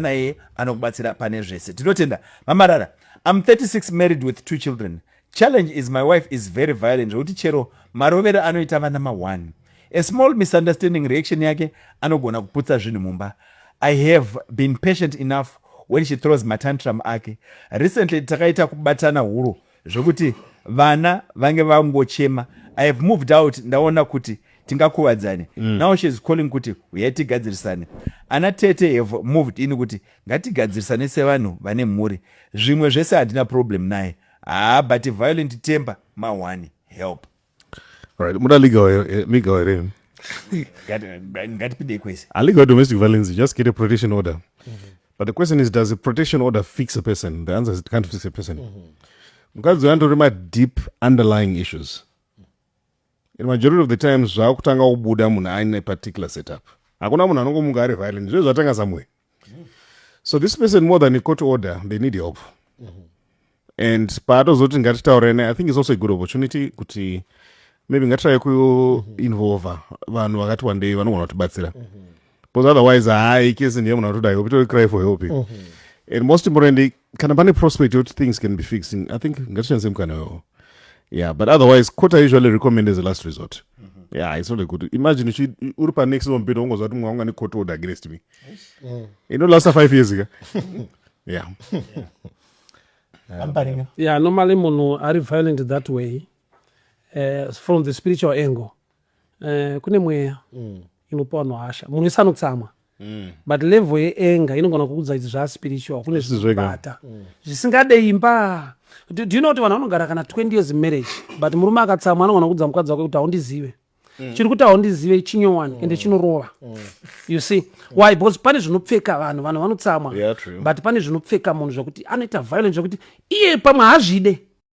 naye anokubatsira pane zvese tinotenda mamarara am 36 married with two children challenge is my wife is very violent zvekuti chero marovero anoita vana ma1 a small misunderstanding reaction yake anogona kuputsa zvinhu mumba i have been patient enough when she throws matantrum ake recently takaita kubatana huro zvekuti vana vange vangochema i have moved out ndaona kuti tingakuvadzane mm. now she is calling kuti huyai tigadzirisane ana tete have moved in kuti ngatigadzirisane sevanhu vane mhuri zvimwe zvese handina problem naye haa but violent temper mahwani help Right, muda legal eh, legal here? Ngatipinde kwese. A legal domestic violence, just get a protection order. Mm -hmm. But the question is, does a protection order fix a person? The answer is it can't fix a person. Mukadzi mm -hmm. my deep underlying issues. In majority of the times, zvakutanga kubuda munhu aine particular setup. Hakuna munhu anongomuka ari violent. Zvezvatanga somewhere. so this person more than a court order they need help mm -hmm. and paatozoti ngatitaurene i think is also a good opportunity kuti maybe ngatiraye kuinvolve mm -hmm. vanhu vakati wandei vanogona kutibatsira mm -hmm. because otherwise haai kesi ndiye munhu atoda help itori cry for help mm -hmm. and most importantly kana pane prospect yekuti things can be fixing i think ngatishandise mukana wewo yeah but otherwise court i usually recommend as a last resort mm -hmm. yeah it's not a good imagine uchi uri pa next one bit ungozwa kuti mwanga ne court order against me mm. ino last five years ka yeah yeah. yeah normally munhu ari violent that way uh, from the spiritual angle uh, kune mweya mm. inopa vanhu hasha munhu wese anotsamwa Mm. but level yeenga inogona kuudza kuti zvaspiritual kune zvinobata mm. zvisingadei mba do you know kuti vanhu vanogara kana 20 years marriage but murume akatsamwa anogona kuudza mukadzi wake kuti haundizive mm. chiri kuti haundizive chinyowani mm. ende chinorova mm. you see mm. why because pane zvinopfeka vanhu vanhu vanotsamwa yeah, but pane zvinopfeka munhu zvekuti anoita violence zvekuti iye pamwe hazvide